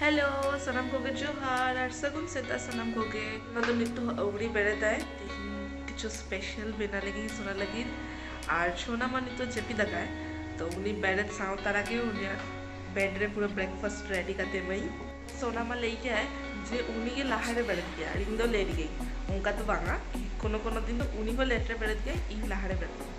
Hello ᱥᱟᱱᱟᱢ ᱠᱚᱜᱮ ᱡᱚᱦᱟᱨ ᱟᱨ ᱥᱟᱹᱜᱩᱱ ᱥᱮᱛᱟᱜ ᱥᱟᱱᱟᱢ ᱠᱚᱜᱮ ᱱᱚᱣᱟ ᱫᱚ ᱱᱤᱛᱚᱜ ᱟᱹᱣᱲᱤ ᱵᱮᱨᱮᱫᱟᱭ ᱛᱮᱦᱮᱧ ᱠᱤᱪᱷᱩ ᱥᱯᱮᱥᱟᱞ ᱵᱮᱱᱟᱣ ᱞᱟᱹᱜᱤᱫ ᱥᱚᱱᱟ ᱞᱟᱹᱜᱤᱫ ᱟᱨ ᱥᱚᱱᱟ ᱢᱟ ᱱᱤᱛᱚᱜ ᱡᱟᱹᱯᱤᱫ ᱟᱠᱟᱫ ᱛᱚ ᱩᱱᱤ ᱵᱮᱨᱮᱫ ᱥᱟᱶ ᱛᱟᱨᱟ ᱜᱮ ᱩᱱᱤᱭᱟᱜ ᱵᱮᱰ ᱨᱮ ᱯᱩᱨᱟᱹ ᱵᱨᱮᱠᱯᱷᱟᱥᱴ ᱨᱮᱰᱤ ᱠᱟᱛᱮ ᱮᱢᱟᱹᱧ ᱥᱚᱱᱟ ᱢᱟ ᱞᱟᱹᱭ ᱠᱮᱫᱟᱭ ᱡᱮ ᱩᱱᱤ ᱜᱮ ᱞᱟᱦᱟ ᱨᱮ ᱵᱮᱨᱮᱫ ᱜᱮᱭᱟ ᱟᱨ ᱤᱧ ᱫᱚ ᱞᱮᱴ ᱜᱮ ᱚᱱᱠᱟ ᱫᱚ ᱵᱟᱝᱟ ᱠᱳᱱᱳ ᱠᱳᱱᱳ ᱫᱤᱱ ᱫᱚ ᱩᱱᱤ ᱦᱚᱸ ᱞᱮᱴ ᱨᱮ ᱵᱮᱨᱮᱫ ᱜᱮᱭᱟᱭ ᱤᱧ ᱞᱟᱦᱟ ᱨᱮ ᱵᱮᱨᱮᱫ ᱜᱮᱭᱟ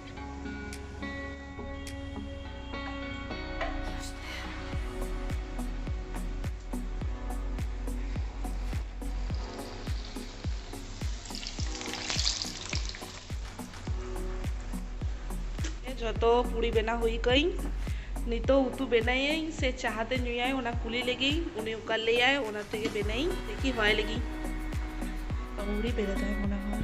ᱡᱚᱛᱚ ᱯᱩᱲᱤ ᱵᱮᱱᱟᱣ ᱦᱩᱭ ᱠᱟᱹᱧ ᱱᱤᱛᱚᱜ ᱩᱛᱩ ᱵᱮᱱᱟᱭᱟᱹᱧ ᱥᱮ ᱪᱟᱦᱟ ᱛᱮ ᱧᱩᱭᱟᱭ ᱚᱱᱟ ᱠᱩᱞᱤ ᱞᱟᱹᱜᱤᱫ ᱩᱱᱤ ᱚᱠᱟ ᱞᱟᱹᱭᱟᱭ ᱚᱱᱟ ᱛᱮᱜᱮ ᱵᱮᱱᱟᱭᱟᱹᱧ ᱫᱮᱠᱷᱤ ᱦᱚᱭ ᱞᱟᱹᱜᱤᱫ ᱟᱹᱣᱨᱤ ᱵᱮᱨᱮᱫᱟᱭ ᱢᱚᱱᱮ ᱦᱚᱭ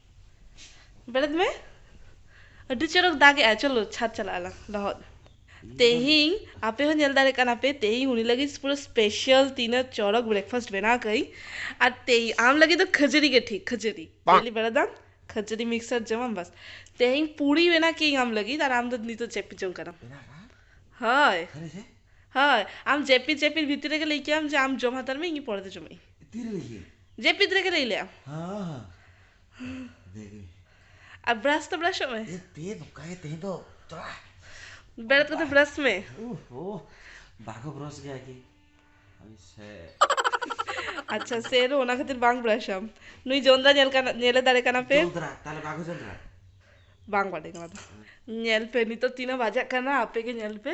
ᱵᱮᱨᱮᱫ ᱢᱮ ᱟᱹᱰᱤ ᱪᱚᱨᱚᱠ ᱫᱟᱜ ᱮᱫᱟᱭ ᱪᱚᱞᱚ ᱪᱷᱟᱫᱽ ᱪᱟᱞᱟᱜ ᱟᱞᱟᱝ ᱞᱚᱦᱚᱫ ᱛᱮᱦᱮᱧ ᱟᱯᱮ ᱦᱚᱸ ᱧᱮᱞ ᱫᱟᱲᱮᱭᱟᱜ ᱠᱟᱱᱟ ᱯᱮ ᱛᱮᱦᱮᱧ ᱩᱱᱤ ᱞᱟᱹᱜᱤᱫ ᱯᱩᱨᱟᱹ ᱥᱯᱮᱥᱟᱞ ᱛᱤᱱᱟᱹᱜ ᱪᱚᱨᱚᱠ ᱵᱨᱮᱠᱯᱷᱟᱥᱴ ᱵᱮᱱᱟᱣ ᱠᱟᱹᱜᱼᱟᱹᱧ ᱟᱨ ᱛᱮᱦᱮᱧ ᱟᱢ ᱞᱟᱹᱜᱤᱫ ᱫᱚ ᱠᱷᱟᱹᱡᱟᱹᱲᱤ ᱜᱮ ᱴᱷᱤᱠ ᱠᱷᱟᱹᱡᱟᱹᱲᱤ ᱰᱮᱞᱤ ᱵᱮᱨᱮᱫᱟᱢ ᱠᱷᱟᱹᱡᱟᱹᱲᱤ ᱢᱤᱠᱥᱟᱨ ᱡᱚᱢᱟᱢ ᱵᱟᱥ ᱛᱮᱦᱮᱧ ᱯᱩᱨᱤ ᱵᱮᱱᱟᱣ ᱠᱟᱹᱜᱼᱟᱹᱧ ᱟᱢ ᱞᱟᱹᱜᱤᱫ ᱟᱨ ᱟᱢ ᱫᱚ ᱱᱤᱛᱚᱜ ᱡᱟᱹᱯᱤᱫ ᱡᱚᱝ ᱠᱟᱱᱟᱢ ᱦᱳᱭ ᱦᱳᱭ ᱟᱢ ᱡᱟᱹᱯᱤᱫ ᱡᱟᱹᱯᱤᱫ ᱵᱷᱤᱛᱤᱨ ᱨᱮᱜᱮ ᱞᱟᱹᱭ ᱠᱮᱫᱟᱢ ᱡᱮ ᱟᱢ ᱡᱚᱢ ᱦᱟᱛᱟᱲ ᱢᱮ ᱤᱧ ᱯᱚᱨᱮᱛᱮ ᱡᱚᱢᱟᱜᱼᱟᱹᱧ ᱡᱟᱹᱯᱤᱫ ᱨᱮᱜᱮ ᱞᱟᱹᱭ ᱞᱮᱜ ᱟᱢ ᱟᱨ ᱵᱨᱟᱥ ᱫᱚ ᱵᱨᱟᱥᱚᱜ ᱢᱮ ᱵᱮᱨᱮᱫ ᱠᱟᱛᱮ ᱵᱨᱟᱥ ᱢᱮ ᱟᱪᱪᱷᱟ ᱥᱮᱨ ᱚᱱᱟ ᱠᱷᱟᱹᱛᱤᱨ ᱵᱟᱝ ᱵᱨᱟᱥ ᱟᱢ ᱱᱩᱭ ᱡᱚᱸᱫᱽᱨᱟ ᱧᱮᱞ ᱠᱟᱱᱟ ᱧᱮᱞᱮ ᱫᱟᱲᱮ ᱠᱟᱱᱟ ᱯᱮ ᱵᱟᱝ ᱵᱟᱰᱟᱭ ᱠᱟᱱᱟ ᱧᱮᱞ ᱯᱮ ᱱᱤᱛᱚᱜ ᱛᱤᱱᱟᱹᱜ ᱵᱟᱡᱟᱜ ᱠᱟᱱᱟ ᱟᱯᱮ ᱜᱮ ᱧᱮᱞ ᱯᱮ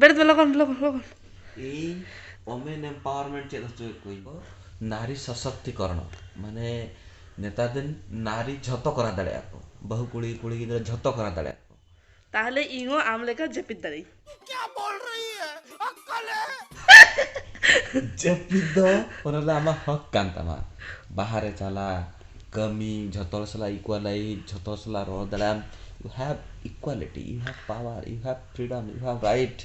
ᱵᱮᱨᱮᱫ ᱢᱮ ᱞᱚᱜᱚᱱ ᱞᱚᱜᱚᱱ ᱞᱚᱜᱚᱱ᱾ ᱤᱧ ᱳᱢᱮᱱ ᱮᱢᱯᱟᱣᱟᱨᱢᱮᱱᱴ ᱪᱮᱫ ᱦᱚᱪᱚᱭᱮᱫ ᱠᱚᱣᱟᱹᱧ᱾ ᱱᱟᱨᱤ ᱥᱚᱥᱚᱠᱛᱤᱠᱚᱨᱚᱬ ᱢᱟᱱᱮ ᱱᱮᱛᱟᱨ ᱫᱤᱱ ᱱᱟᱨᱤ ᱡᱷᱚᱛᱚ ᱠᱚᱨᱟᱣ ᱫᱟᱲᱮᱭᱟᱜᱼᱟ ᱠᱚ᱾ ᱵᱟᱹᱦᱩ ᱠᱩᱲᱤ ᱠᱩᱲᱤ ᱜᱤᱫᱽᱨᱟᱹ ᱡᱷᱚᱛᱚ ᱠᱚᱨᱟᱣ ᱫᱟᱲᱮᱭᱟᱜᱼᱟ ᱠᱚ᱾ ᱛᱟᱦᱚᱞᱮ ᱤᱧ ᱦᱚᱸ ᱟᱢ ᱞᱮᱠᱟ ᱡᱟᱹᱯᱤᱫ ᱫᱟᱲᱮᱭᱟᱜ ᱟᱹᱧ᱾ ᱛᱩ ᱠᱭᱟ ᱵᱳᱞ ᱨᱮᱦᱤ ᱦᱮ ᱟᱠᱠᱟᱞ ᱦᱮ᱾ ᱡᱟᱹᱯᱤᱫ ᱫᱚ ᱚᱱᱟ ᱫᱚ ᱟᱢᱟᱜ ᱦᱚᱠ ᱠᱟᱱ ᱛᱟᱢᱟ᱾ ᱵᱟᱦᱟᱨ ᱨᱮ ᱪᱟᱞᱟᱜ, ᱠᱟᱹᱢᱤ, ᱡᱷᱚᱛᱚ ᱦᱚᱲ ᱥᱟᱞᱟᱜ ᱤᱠᱩᱣᱟᱞᱟᱭᱤᱡᱽ, ᱡᱷᱚᱛᱚ ᱦᱚᱲ ᱥᱟᱞᱟᱜ ᱨᱚᱲ ᱫᱟᱲᱮᱭᱟᱜ ᱟᱢ, you have equality, you have power, you have freedom you have right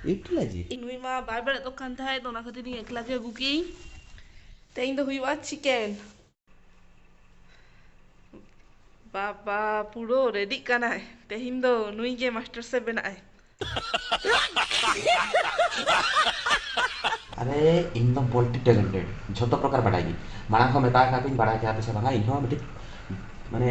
utilize it. ᱱᱩᱭ ᱢᱟ ᱵᱟᱭ ᱵᱟᱲᱟᱭ ᱫᱚ ᱠᱟᱱ ᱛᱟᱦᱮᱸᱫ ᱛᱚ ᱚᱱᱟ ᱠᱷᱟᱹᱛᱤᱨ ᱤᱧ ᱮᱠᱞᱟ ᱜᱮ ᱟᱹᱜᱩ ᱠᱮᱜ ᱤᱧ ᱛᱮᱦᱮᱧ ᱫᱚ ᱦᱩᱭᱩᱜᱼᱟ ᱪᱤᱠᱮᱱ ᱵᱟᱵᱟ ᱯᱩᱨᱟᱹ ᱨᱮᱰᱤᱜ ᱠᱟᱱᱟᱭ ᱛᱮᱦᱮᱧ ᱫᱚ ᱱᱩᱭ ᱜᱮ ᱢᱟᱥᱴᱟᱨ ᱥᱮᱯᱷ ᱵᱮᱱᱟᱜ ᱟᱭ᱾ ᱟᱨᱮ ᱤᱧ ᱢᱟ ᱢᱚᱞᱴᱤ ᱴᱮᱞᱮᱱᱴᱮᱰ ᱡᱷᱚᱛᱚ ᱯᱨᱚᱠᱟᱨ ᱵᱟᱰᱟᱭ ᱜᱮ ᱢᱟᱲᱟᱝ ᱦᱚᱸ ᱢᱮᱛᱟ ᱟᱠᱟᱫ ᱠᱚᱣᱟᱹᱧ ᱵᱟᱲᱟᱭ ᱠᱮᱭᱟ ᱯᱮ ᱥᱮ ᱵᱟᱝ ᱤᱧ ᱦᱚᱸ ᱢᱤᱫᱴᱤᱡ ᱢᱟᱱᱮ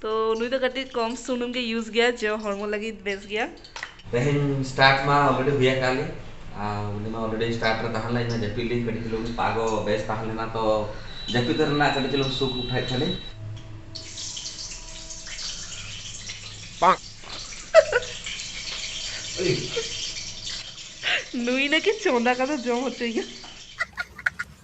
ᱛᱚ ᱱᱩᱭ ᱫᱚ ᱠᱟᱹᱴᱤᱡ ᱠᱚᱢ ᱥᱩᱱᱩᱢ ᱜᱮ ᱤᱭᱩᱡᱽ ᱜᱮᱭᱟ ᱡᱮ ᱦᱚᱲᱢᱚ ᱞᱟᱹᱜᱤᱫ ᱵᱮᱥ ᱜᱮᱭᱟ ᱛᱮᱦᱮᱧ ᱥᱴᱟᱨᱴ ᱢᱟ ᱚᱞᱨᱮᱰᱤ ᱦᱩᱭ ᱟᱠᱟᱫ ᱞᱤᱧ ᱩᱱᱤ ᱢᱟ ᱚᱞᱨᱮᱰᱤ ᱥᱴᱟᱨᱴ ᱨᱮ ᱛᱟᱦᱮᱸ ᱞᱮᱱᱟ ᱡᱟᱹᱯᱤᱫ ᱞᱤᱧ ᱠᱟᱹᱴᱤᱡ ᱪᱩᱞᱩᱝ ᱯᱟᱜᱚ ᱵᱮᱥ ᱛᱟᱦᱮᱸ ᱞᱮᱱᱟ ᱛᱚ ᱡᱟᱹᱯᱤᱫ ᱨᱮᱱᱟᱜ ᱠᱟᱹᱴᱤᱡ ᱪᱩᱞᱩᱝ ᱥᱩᱠ ᱩᱴᱷᱟᱹᱣᱮᱫ ᱛᱟᱦᱮᱸᱞᱤᱧ ᱱᱩᱭ ᱱᱟᱠᱤ ᱪᱚᱸᱫᱟ ᱠᱟᱛᱮ ᱡᱚᱢ ᱦᱚᱪᱚᱭᱮᱭᱟ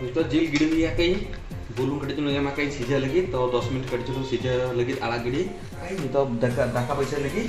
ᱱᱤᱛᱚᱜ ᱡᱤᱞ ᱜᱤᱰᱤ ᱞᱮᱭᱟ ᱠᱟᱹᱧ ᱵᱩᱞᱩᱝ ᱠᱟᱹᱴᱤᱡ ᱪᱩᱞᱩᱝ ᱮᱢᱟ ᱠᱟᱹᱧ ᱥᱤᱡᱷᱟᱹ ᱞᱟᱹᱜᱤᱫ ᱛᱚ ᱫᱚᱥ ᱢᱤᱱᱤᱴ ᱠᱟᱹᱴᱤᱡ ᱪᱩᱞᱩᱝ ᱥᱤᱡᱷᱟᱹ ᱞᱟᱹᱜᱤᱫ ᱟᱲᱟᱜ ᱜᱤᱰᱤ ᱱᱤᱛᱚᱜ ᱫᱟᱠᱟ ᱫᱟᱠᱟ ᱵᱟᱹᱭᱥᱟᱹᱣ ᱞᱟᱹᱜᱤᱫ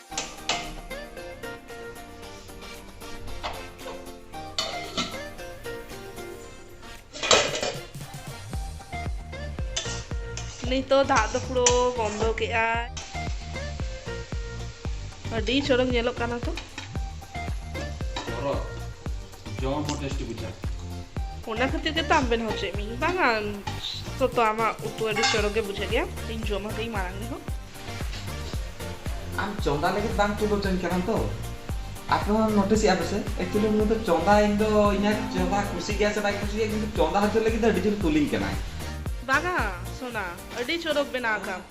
ᱱᱤᱛᱚᱜ ᱫᱟᱜ ᱫᱚ ᱯᱩᱨᱟᱹ ᱵᱚᱱᱫᱚ ᱠᱮᱜᱼᱟ ᱟᱹᱰᱤ ᱪᱚᱨᱚᱠ ᱧᱮᱞᱚᱜ ᱠᱟᱱᱟ ᱛᱚ ᱡᱚᱢ ᱦᱚᱸ ᱴᱮᱥᱴᱤ ᱵᱩᱡᱷᱟᱹᱜᱼᱟ ᱚᱱᱟ ᱠᱷᱟᱹᱛᱤᱨ ᱜᱮᱛᱚ ᱟᱢ ᱵᱮᱱᱟᱣ ᱦᱚᱪᱚᱭᱮᱫ ᱢᱤᱭᱟᱹᱧ ᱵᱟᱝᱟ ᱛᱚ ᱟᱢᱟᱜ ᱩᱛᱩ ᱟᱹᱰᱤ ᱪᱚᱨᱚᱠ ᱜᱮ ᱵᱩᱡᱷᱟᱹᱜ ᱜᱮᱭᱟ ᱤᱧ ᱡᱚᱢ ᱦᱚᱪᱚᱭᱤᱧ ᱢᱟᱲᱟᱝ ᱨᱮᱦᱚᱸ ᱟᱢ ᱪᱚᱸᱫᱟ ᱞᱟᱹᱜᱤᱫ ᱵᱟᱝ ᱛᱩᱞᱟᱹᱣ ᱦᱚᱪᱚᱧ ᱠᱟᱱᱟ ᱛᱚ ᱟᱯᱮ ᱦᱚᱸ ᱱᱳᱴᱤᱥ ᱮᱫᱟ ᱯᱮᱥᱮ ᱮᱠᱪᱩᱭᱮᱞᱤ ᱩᱱᱤ ᱫᱚ ᱪᱚᱸᱫᱟ ᱤᱧ ᱫᱚ ᱤᱧᱟᱹᱜ ᱪᱚᱸᱫᱟ ᱠᱩᱥᱤ ᱜᱮᱭᱟ ᱥᱮ ᱵᱟᱭ ᱠᱩᱥᱤ ᱜᱮᱭᱟ ᱠᱤᱱᱛᱩ ᱪᱚᱸᱫᱟ ᱦᱚᱪᱚ ᱞᱟᱹᱜᱤᱫ ᱫᱚ ᱟᱹᱰᱤ ᱡᱳᱨ ᱛᱩᱞᱤᱧ ᱠᱟᱱᱟᱭ ᱵᱟᱝᱟ ᱥᱚᱱᱟ ᱟᱹᱰᱤ ᱪᱚᱨᱚᱠ ᱵᱮᱱᱟᱣ ᱠᱟᱢ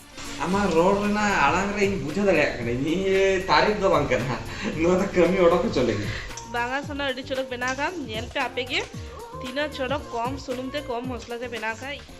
ᱟᱢᱟᱜ ᱨᱚᱲ ᱨᱮᱱᱟᱜ ᱟᱲᱟᱝ ᱨᱮ ᱤᱧ ᱵᱩᱡᱷᱟᱹᱣ ᱫᱟᱲᱮᱭᱟᱜ ᱠᱟᱱᱟ ᱤᱧ ᱛᱟᱨᱤᱯ ᱫᱚ ᱵᱟᱝ ᱠᱟᱱᱟ ᱱᱚᱣᱟ ᱫᱚ ᱠᱟᱹᱢᱤ ᱚᱰᱚᱠ ᱦᱚᱪᱚ ᱞᱟᱹᱜᱤᱫ ᱵᱟᱝᱟ ᱥᱚᱱᱟ ᱟᱹᱰᱤ ᱪᱚᱨᱚᱠ ᱵᱮᱱᱟᱣ ᱠᱟᱢ ᱧᱮᱞ ᱯᱮ ᱟᱯᱮ ᱜᱮ ᱛᱤᱱᱟᱹᱜ ᱪᱚᱨᱚᱠ ᱠᱚᱢ ᱥᱩᱱᱩᱢ ᱛᱮ ᱠᱚᱢ ᱢᱚᱥᱞᱟ ᱛᱮ ᱵᱮᱱᱟᱣ ᱠᱟᱜ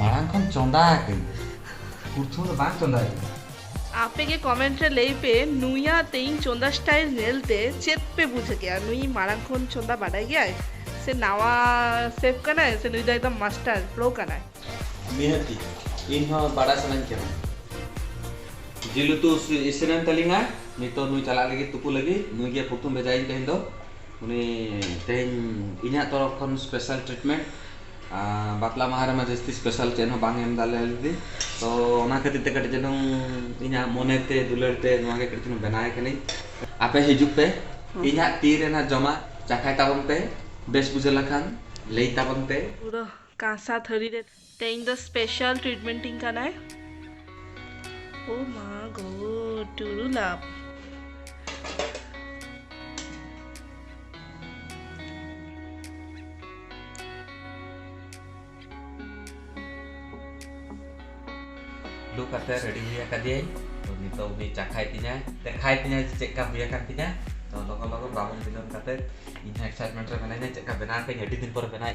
ᱢᱟᱲᱟᱝ ᱠᱷᱚᱱ ᱪᱚᱸᱫᱟ ᱟᱠᱟᱹᱧ ᱯᱨᱚᱛᱷᱚᱢ ᱫᱚ ᱵᱟᱝ ᱪᱚᱸᱫᱟ ᱟᱠᱟᱹᱧ ᱟᱯᱮ ᱜᱮ ᱠᱚᱢᱮᱱᱴ ᱨᱮ ᱞᱟᱹᱭ ᱯᱮ ᱱᱩᱭᱟ ᱛᱮᱦᱮᱧ ᱪᱚᱸᱫᱟ ᱥᱴᱟᱭᱤᱞ ᱧᱮᱞ ᱛᱮ ᱪᱮᱫ ᱯᱮ ᱵᱩᱡᱷ ᱠᱮᱜᱼᱟ ᱱᱩᱭ ᱢᱟᱲᱟᱝ ᱠᱷᱚᱱ ᱪᱚᱸᱫᱟ ᱵᱟᱰᱟᱭ ᱜᱮᱭᱟᱭ ᱥᱮ ᱱᱟᱣᱟ ᱥᱮᱯᱷ ᱠᱟᱱᱟᱭ ᱥᱮ ᱱᱩᱭ ᱫᱚ ᱮᱠᱫᱚᱢ ᱢᱟᱥᱴᱟᱨ ᱯᱨᱳ ᱠᱟᱱᱟᱭ ᱱᱤᱦᱟᱹᱛᱤ ᱤᱧ ᱦᱚᱸ ᱵᱟᱰᱟᱭ ᱥᱟᱱᱟᱧ ᱠᱟᱱᱟ ᱡᱤᱞ ᱩᱛᱩ ᱤᱥᱤᱱᱮᱱ ᱛᱟᱹᱞᱤᱧᱟ ᱱᱤᱛᱚᱜ ᱱᱩᱭ ᱪᱟᱞᱟᱜ ᱞᱟᱹᱜᱤᱫ ᱛᱩᱯᱩ ᱞᱟᱹᱜᱤᱫ ᱱᱩᱭ ᱜᱮ ᱯᱨᱚᱛᱷᱚᱢ ᱵᱷᱮᱡᱟᱭᱤᱧ ᱛᱮᱦᱮᱧ ᱫᱚ ᱩᱱᱤ ᱛᱮᱦᱮᱧ ᱤᱧᱟᱹᱜ ᱛᱚᱨᱚᱯ ᱠᱷᱚᱱ ᱥᱯᱮᱥᱟᱞ ᱴᱨᱤᱴᱢᱮᱱᱴ ᱵᱟᱯᱞᱟ ᱢᱟᱦᱟ ᱨᱮᱢᱟ ᱡᱟᱹᱥᱛᱤ ᱥᱯᱮᱥᱟᱞ ᱪᱮᱫ ᱦᱚᱸ ᱵᱟᱝ ᱮᱢ ᱫᱟᱲᱮ ᱟᱞᱮ ᱫᱤᱫᱤ ᱛᱚ ᱚᱱᱟ ᱠᱷᱟᱹᱛᱤᱨ ᱛᱮ ᱠᱟᱹᱴᱤᱡ ᱪᱩᱞᱩᱝ ᱤᱧᱟᱹᱜ ᱢᱚᱱᱮ ᱛᱮ ᱫᱩᱞᱟᱹᱲ ᱛᱮ ᱱᱚᱣᱟ ᱜᱮ ᱠᱟᱹᱴᱤᱡ ᱪᱩᱞᱩᱝ ᱵᱮᱱᱟᱣ ᱮ ᱠᱟᱹᱱᱟᱹᱧ ᱟᱯᱮ ᱦᱤᱡᱩᱜ ᱯᱮ ᱤᱧᱟᱹᱜ ᱛᱤ ᱨᱮᱱᱟᱜ ᱡᱚᱢᱟᱜ ᱪᱟᱠᱷᱟᱭ ᱛᱟᱵᱚᱱ ᱯᱮ ᱵᱮᱥ ᱵᱩᱡᱷᱟᱹᱣ ᱞᱮᱱᱠᱷᱟᱱ ᱞᱟᱹᱭ ᱛᱟᱵᱚᱱ ᱯᱮ᱾ ᱯᱩᱨᱟᱹ ᱠᱟᱸᱥᱟ ᱛᱷᱟᱹᱨᱤ ᱨᱮ᱾ ᱛᱮᱦᱮᱧ ᱫᱚ ᱥᱯᱮᱥᱟᱞ ᱴᱨᱤᱴᱢᱮᱱᱴ ᱤᱧ ᱠᱟᱱᱟᱭ᱾ ᱳ ᱢᱟ ᱜᱚᱰ ᱴᱩᱨᱩ ᱞᱟᱵᱷ᱾ ᱞᱩ ᱠᱟᱛᱮ ᱨᱮᱰᱤ ᱦᱩᱭ ᱟᱠᱟᱫᱤᱭᱟᱹᱧ ᱛᱚ ᱱᱤᱛᱚᱜ ᱩᱱᱤ ᱪᱟᱠᱷᱟᱭ ᱛᱤᱧᱟᱭ ᱫᱮᱠᱷᱟᱭ ᱛᱤᱧᱟᱭ ᱡᱮ ᱪᱮᱫ ᱞᱮᱠᱟ ᱦᱩᱭ ᱟᱠᱟᱱ ᱛᱤᱧᱟ ᱛᱚ ᱞᱚᱜᱚᱱ ᱞᱚᱜᱚᱱ ᱵᱟᱵᱚᱱ ᱵᱤᱞᱚᱢ ᱠᱟᱛᱮ ᱤᱧ ᱦᱚᱸ ᱮᱠᱥᱟᱭᱴᱢᱮᱱᱴ ᱨᱮ ᱢᱮᱱᱟᱹᱧᱟ ᱪᱮᱫ ᱞᱮᱠᱟ ᱵᱮᱱᱟᱣ ᱠᱟᱹᱧ ᱟᱹᱰᱤ ᱫᱤᱱ ᱯᱚᱨᱮ ᱵᱮᱱᱟᱣ